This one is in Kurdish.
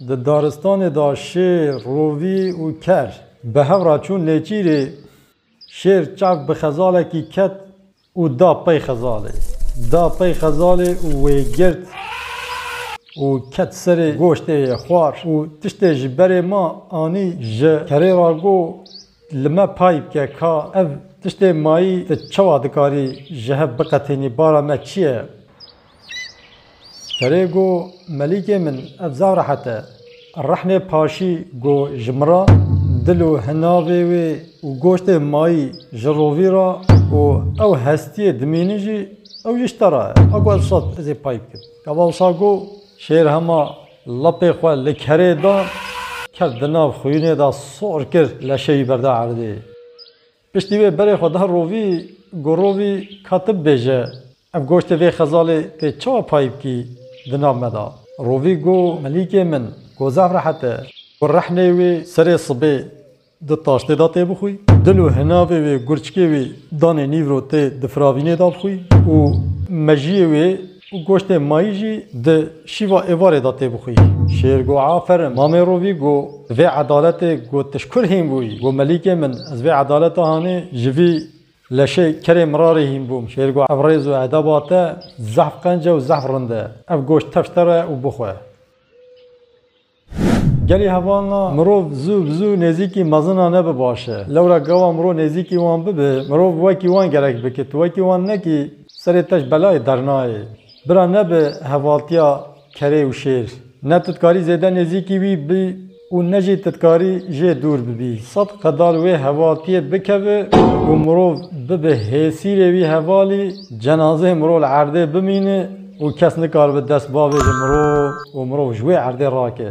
Di daristanê de şêr, rovî û ker bi hev re çûn Nêçîrê. Şêr çav bi xezalekî ket û da pey xezalê. Da pey xezalê û wê girt û ket serê goştê yê xwar û tiştê ji berê ma anî ji kerê re got, Li me pay bike ka ev tiştê mayî tu çawa dikarî ji hev biqetînî, bara me çi ye? Serê go, Melîkê min, ev zaf rehet e. Rexmê paşî go ji min re, dil û hinavê wê û goştê mayî ji rovî re û ew hestiyê dimînin jî, ew jî ji te re e. A go ev sat ez ê pay bikim. Kevawsa go, Şêr hema lapê xwe li kerê da, ket di nav xwînê de sor kir leşê wî berda erdê. Piştî wê berê xwe da rovî, gorovî ka ti bibêje, ev goştê vê xezalê tê çawa payî bikî di nav me da? Rovî got, Melîkê min, ku zaf rehet e, ku rehnê wê serê sibê di taştê da tê bixwî, dil û hinavê wê gurçikê wî danê nîvro tê di firavînê da bixwî û mejiyê wê Û goştê mayî jî di şîva êvarê de tê bixwî. Şêr go Aferin mamê rovî go vê edaletê go tu ji kur hîn bûyî? Go Melîkê min ez vê edaleta hanê ji vî leşê kerê mirarê hîn bûm. Şêr go Ev rêz û edeba te zehf qence û zehf rind e. Ev goşt tevşte re û bixwe. Gelê hevan a mirov zû bi zû nêzîkî mezinan e bi baş e. Lewra gawa mirov nêzîkî wan bibe, mirov wekî wan gerek be ke tu wekî wan nekî serê te ji belayê dernayê. Bira nebe hevaltiya kerê û şêr. Ne tu dikarî zêde nêzîkî wî bî û ne jî tu dikarî jê dûr bibî. Sed qedar wê hevaltiyê bikeve û mirov bibe hêsîrê wî hevalî, cenazeyê mirov li erdê bimîne, Û kes nikaribe dest bavêje mirov û mirov ji wê erdê rake.